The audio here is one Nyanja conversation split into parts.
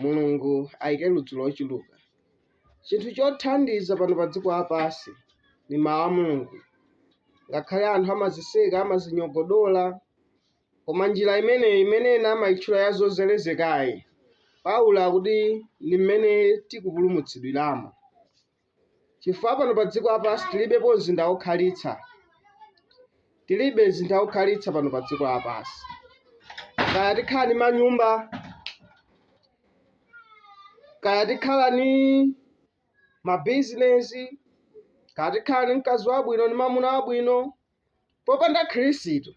Mulungu ayike ludzu lochuluka. Chinthu chothandiza pano pa dziko lapansi ni mawu a Mulungu. Ngakhale anthu amaziseka, amazinyogodola, koma njira imeneyi imene ena amaitchula ya zozelezekayi, Paulo akuti ni mmene tikupulumutsidwiramo. chifukwa pano pa dziko lapansi tilibepo mzinda wokhalitsa tilibe mzinda wokhalitsa pano pa dziko lapansi kaya tikhala ni manyumba kaya tikhala ni mabizinesi kaya tikhala ni mkazi wabwino ni mamuna wabwino Popanda Khristu,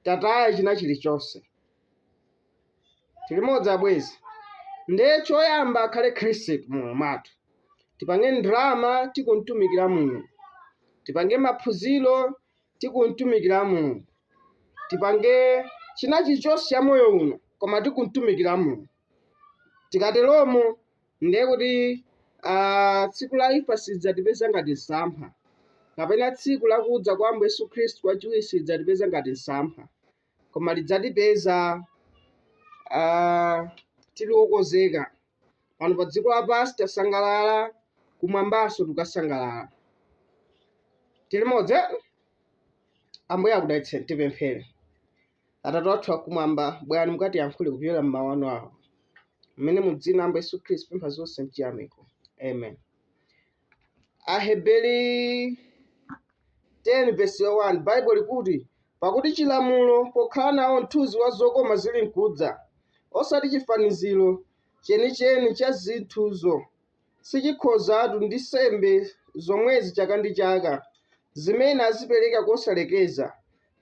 tataya china chilichonse. Tilimodzi abwezi. Nde choyamba akhale Khristu mmoyo mwathu. Tipange ndrama tikumtumikira Mulungu. Tipange maphunziro tikumtumikira Mulungu. Tipange china chilichonse cha moyo uno koma tikumtumikira Mulungu. Tikateromo Ndiye kuti ah, tsiku la imfa silidzatipeza ngati msampha, kapena tsiku la kudza kwa Ambuye Yesu Khristu kwachiwiri silidzatipeza ngati msampha, koma lidzatipeza ah, tili okonzeka. Pano pa dziko lapansi tasangalala, kumwambanso tikasangalala. Tilimodzi? Ambuye akudalitseni, tipemphere. Atate athu akumwamba, bwerani mukatiyankhule kupyolera m'mawu anu awa. Mmene mu dzina la Ambuye Yesu Khristu pempha zonse mchiyamiko. Amen. Aheberi 10 vesi 1 Baibulo likuti, pakuti chilamulo pokhala nawo mthunzi wa zokoma zili nkudza, osati chifaniziro chenicheni cha zinthuzo. sichikhozatu ndi nsembe zomwezi chaka ndi chaka, zimene azipereka kosalekeza,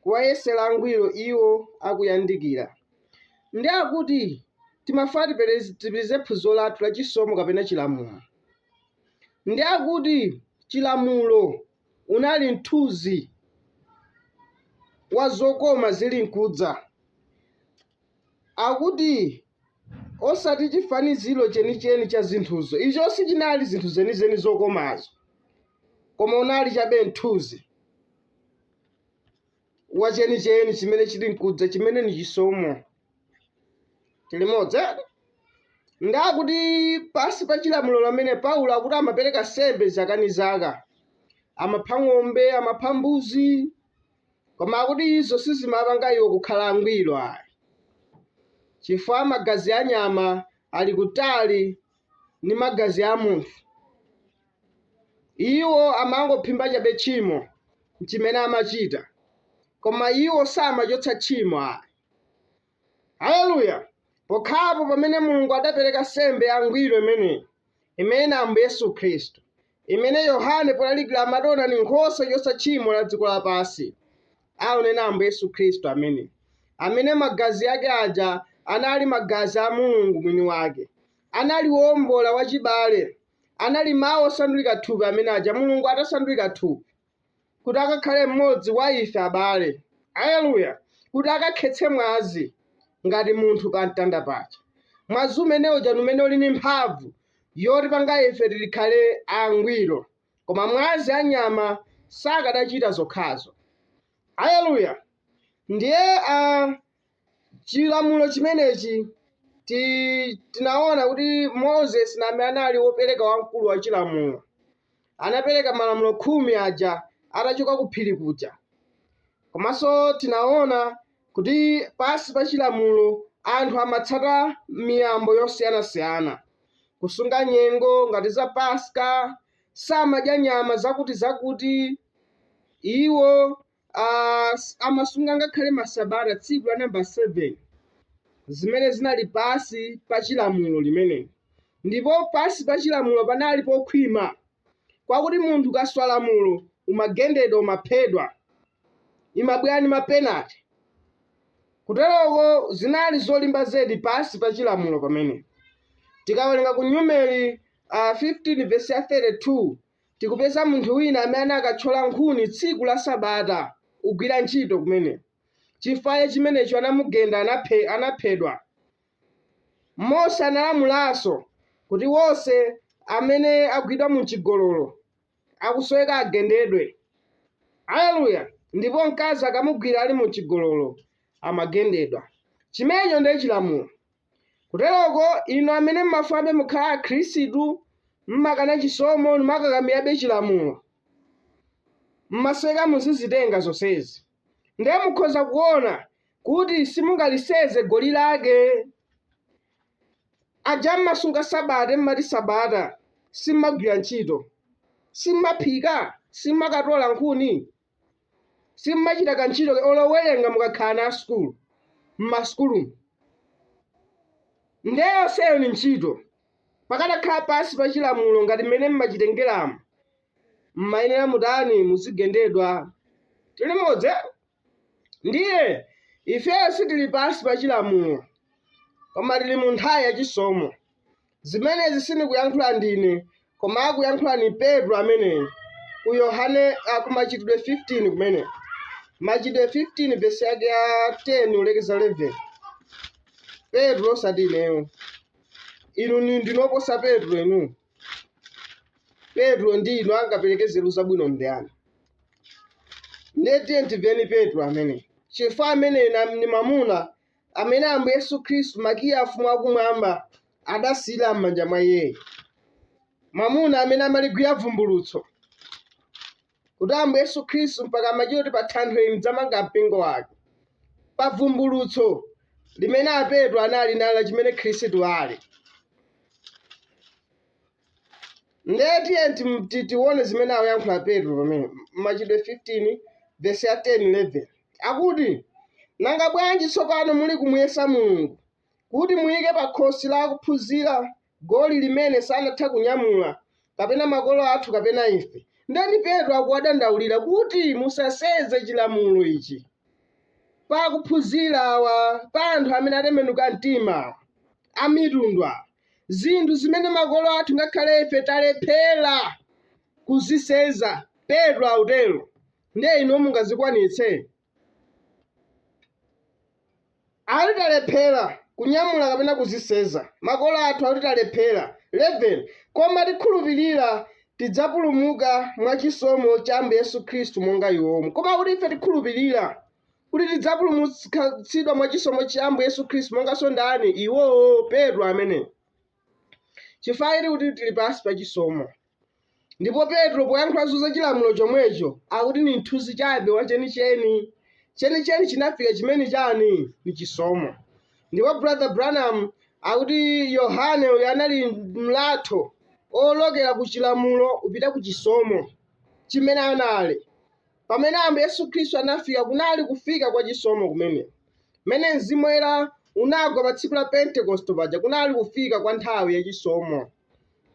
kuwayesera angwiro iwo akuyandikira. Ndi akuti timafuna tiperez, tipitirize phunziro lathu la chisomo kapena chilamulo. Ndi akuti chilamulo unali mthunzi wa zokoma zili nkudza. Akuti, Osati chifaniziro chenicheni cha zinthuzo, icho sichinali zinthu zenizeni zokomazo, koma unali chabe mthunzi wa chenicheni chimene chili nkudza, chimene ni chisomo. Tilimodzi, eti? Ndi akuti pansi pa chilamulo pamene Paulo akuti amapereka nsembe zaka ndi zaka, amapha ng'ombe, amapha mbuzi, Koma akuti izo sizimapanga iwo kukhala angwiro ayi, chifukwa magazi a nyama ali kutali ndi magazi a munthu. Iwo amangophimba chabe tchimo, nchimene amachita, koma iwo samachotsa tchimo ayi. Haleluya! Pokhapo pamene Mulungu adapereka nsembe yangwiro imeneyi, imene ni Ambuye Yesu Khristu, imene Yohane polalikira amati ona ni nkhosa yochotsa tchimo la dziko lapansi, aunena Ambuye Yesu Khristu amene, amene magazi ake aja anali magazi a Mulungu mwini wake, anali woombola wachibale, anali Mau osandulika thupi amene aja, Mulungu atasandulika thupi. kuti akakhale mmodzi wa ife, abale. Aleluya! Kuti akakhetse mwazi ngati munthu pa mtanda paja. Mwazi umene uja ndi umene uli ndi mphamvu yotipanga ife tikhale angwiro. Koma mwazi a nyama sakadachita zokhazo. Aleluya! Ndiye a Chilamulo chimenechi tinaona kuti Moses naye anali wopereka wamkulu wa chilamulo. Anapereka malamulo khumi aja atachoka ku phiri kuja. Komanso tinaona kuti pansi pa chilamulo anthu amatsata miyambo yosiyanasiyana, kusunga nyengo ngati za Paska, samadya nyama zakutizakuti, iwo ah, s- amasunga ngakhale masabata tsiku la namba 7 zimene zinali pansi pa chilamulo limeneli ndipo pansi pa chilamulo panali pokhwima kwakuti munthu ukaswa lamulo umagendedwa umaphedwa imabwera ni mapenati kuteroko zinali zolimba zedi pansi pa chilamulo pamene tikawerenga ku numeri uh, 15 vesi ya 32 Tikupeza munthu wina amene anakatchola nkhuni tsiku la sabata kugwira ntchito kumene chifukwa cha chimenecho anamugenda anaphedwa. Mose analamulanso kuti wose amene agwidwa muchigololo akusoweka agendedwe. Aleluya! Ndipo mkazi akamugwira ali muchigololo amagendedwa. Chimenecho ndiye chilamulo. Kuteroko, inu amene mumafunabe mukhala Akhristu, mumakana chisomo n'kumakakamirabe chilamulo, mumasoweka muzizitenga zonsezi, ndiye mukhoza kuona kuti simungaliseze goli lake. Aja mmasunga Sabata mmati Sabata, simmagwira ntchito, simmaphika, simmakatola nkhuni, simmachita kantchito olo kuwerenga mukakhala ana asukulu mmasukulumu ndiye yonseyo ni ntchito pakadakhala pansi pa chilamulo ngati mmene mmachitengeramo mmayenera mutani muzigendedwa tili limodzi ndiye ifeyo sitili pansi pa chilamulo koma tili mu nthawi ya chisomo Zimenezi sindikuyankhula ndine, koma akuyankhula ni Petro ameneyo ku Yohane a ku Machitidwe 15 kumene machitidwe 15 vesi yake ya 10 ulekeza 11 Petro osati ineyo inu ni ndinoposa Petro inu Petro ndi inu angapereke nzeru zabwino ndiyani ndiye tiyeni timveni Petro amene chifukwa amene na- ni mamuna amene Ambuye Yesu Khristu, makiyi a ufumu wakumwamba, adasiyira m'manja mwa iyeyo. Mwamuna amene amaligwira vumbulutso. Kuti Ambuye Yesu Khristu mpaka amachita kuti pa thanthwe ili ndidzamanga mpingo wanga. Pa vumbulutso limene a Petro anali nalo la chimene Khristu ali. Ndiye tiye tione zimene akuyankhula Petro pamene Machitidwe 15 vesi ya 10 11 akuti nanga bwanji tsopano muli kumuyesa Mulungu kuti muyike pa khosi la akuphunzira goli limene sanatha kunyamula kapena makolo athu kapena ife. Ndani Petro akuwadandaulira kuti musasenze chilamulo ichi pa akuphunzira awa pa anthu amene atembenuka mtima amitundwa zinthu zimene makolo athu ngakhale ife talephera kuzisenza petro akutero ndiye inu mungazikwanitse akuti talephera kunyamula kapena kuzisenza makolo athu akuti talephera 11 koma tikhulupirira tidzapulumuka mwa chisomo cha ambuye yesu khristu monga iwomo koma kuti ife tikhulupirira kuti tidzapulumutsidwa mwa chisomo cha Ambuye Yesu Khristu monganso ndani iwowo Petro amene chifukwa chiti kuti tili pansi pa chisomo ndipo Petro poyankhulanso za chilamulo chomwecho akuti ni mthunzi chabe wa chenicheni chenicheni chinafika chimene chani ni chisomo ndipo brother Branham akuti Yohane uyu anali mlatho olokera ku chilamulo kupita ku chisomo chimene anali pamene ambuye yesu khristu anafika kunali kufika kwa chisomo kumene mmene mzimu woyera unagwa pa tsiku la pentekoste paja kunali kufika kwa nthawi ya chisomo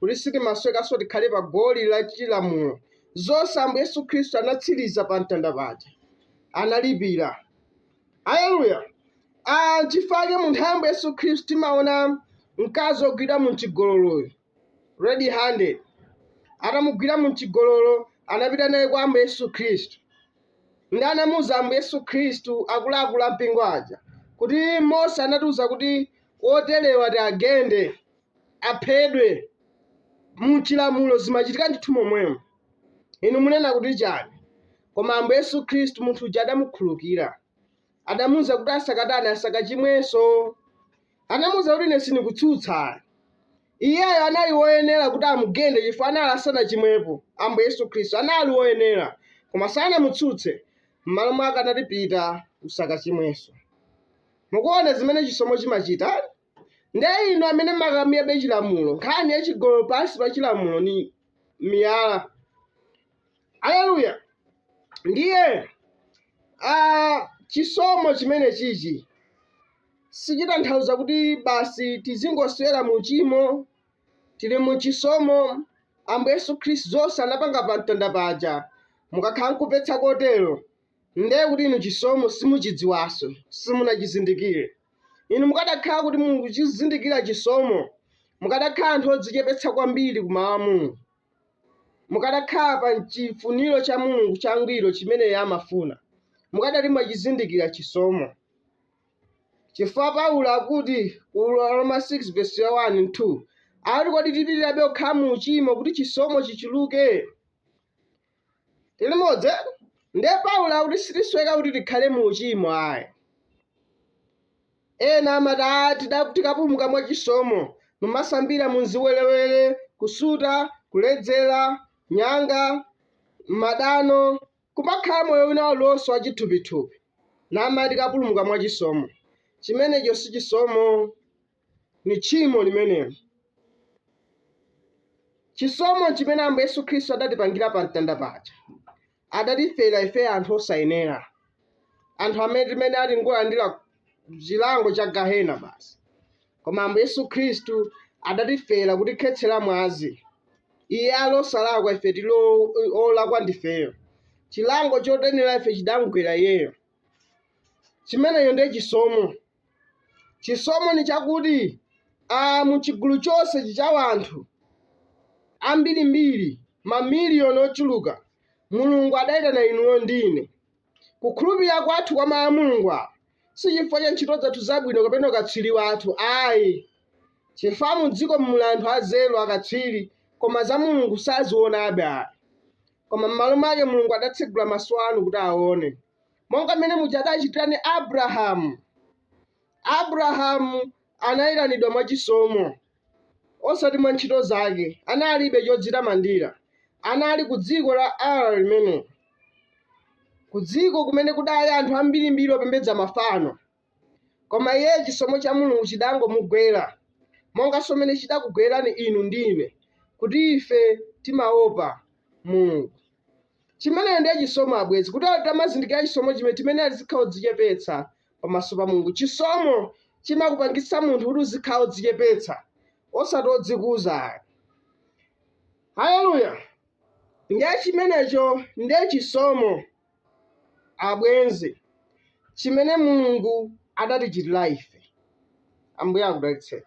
kuti sitimasowekanso tikhale pa goli la chilamulo zonse ambuye yesu khristu anatsiriza pa mtanda paja analipira aleluya Ah, chifukwa mu nthawi ya ambuye yesu khristu timaona mkazi ogwidwa mu chigololoyo red handed, atamugwira mu chigololo, anapita naye kwa Ambuye Yesu Khristu. Ndi anamuuza Ambuye Yesu Khristu akuluakulu a mpingo aja kuti Mose anatiuza kuti oterewa tiwagende, aphedwe. Mu chilamulo zimachitika ndithu momwemo. Inu munena kuti chani? Koma Ambuye Yesu Khristu munthu uja adamukhulukira. adamuuza kuti asakatani asakachimwenso anamuuza kuti ine sindikutsutsa iyeyo anali woyenera kuti amugende chifukwa anali asanachimwepo ambuye yesu khristu anali woyenera koma sanamutsutse m'malo mwake anati pita usakachimwenso mukuona zimene chisomo chimachita nde inu amene mukamirabe chilamulo nkhani ya chigololo pansi pa chilamulo ni miyala Aleluya! Ndiye ah, chisomo chimene chichi sichitanthauza kuti basi tizingoswera mu chimo tili mu chisomo ambuye yesu khristu zonse anapanga pa mtanda paja mukakhala nkuganiza kotero ndiye kuti inu chisomo simuchidziwanso simunachizindikire inu mukadakhala kuti mukuchizindikira chisomo mukadakhala anthu odzichepetsa kwambiri ku mawu a mulungu mukadakhala pa chifuniro cha Mulungu changwiro chimene Iye amafuna, mukadati mwachizindikira chisomo. Chifukwa Paulo akuti ku Aroma 6 verse 1 and 2 akuti kodi tipitirirebe kukhala mu uchimo kuti chisomo chichuluke? Tili limodzi eti? Ndiye Paulo akuti sitisweka kuti tikhale mu uchimo ayi. Ena amati ah tida- tikapulumuka mwa chisomo mumasambira mu ziwerewere, kusuta, kuledzera, nyanga, madano, kumakhala moyo wina uliwonse wa chithupithupi. Namati tikapulumuka mwa chisomo. Chimenecho si chisomo. Ndi tchimo limenelo. Chisomo chimene Ambuye Yesu Khristu adatipangira pa mtanda paja, adatifera ife anthu osayenera, anthu amene timayenera tingolandira chilango cha gahena basi. Koma Ambuye Yesu Khristu adatifera kutikhetsera mwazi. Iye ali osalakwa, ife tili o- olakwa ndifeyo. Chilango chotiyenera ife chidamgwera iyeyo. Chimenecho ndiye chisomo. Chisomo ni chakuti a mu chigulu chonse chi cha wanthu ambirimbiri, mamiliyoni ochuluka, Mulungu adaitana inuyo ndi ine. Kukhulupirira kwathu kwa Mau a Mulungu awa si chifukwa cha ntchito zathu zabwino kapena ukatswiri wathu ayi, chifukwa mu dziko muli anthu anzeru, akatswiri, koma za Mulungu sazionabe ayi. Koma m'malo mwake Mulungu adatsegula maso anu kuti aone. monga mmene muja adachitira ni abrahamu abrahamu anayitanidwa mwa chisomo osati mwa ntchito zake analibe chodzitamandira anali ku dziko la uri limene ku dziko kumene kudali anthu ambirimbiri opembedza mafano Koma iye chisomo cha Mulungu chidangomugwera, monga mmene chidakugwerani inu ndi ine, kuti ife timaopa Mulungu. Chimenecho ndiye chisomo, abwenzi, kuti tikamazindikira chisomo chimene timayenera tizikhala odzichepetsa pamaso pa Mulungu. Chisomo chimakupangitsa munthu kuti uzikhala odzichepetsa, osati odzikuza ayi. Haleluya! Ndiye chimenecho ndiye chisomo. Abwenzi, chimene Mulungu adatichitira ife! Ambuye akudalitseni.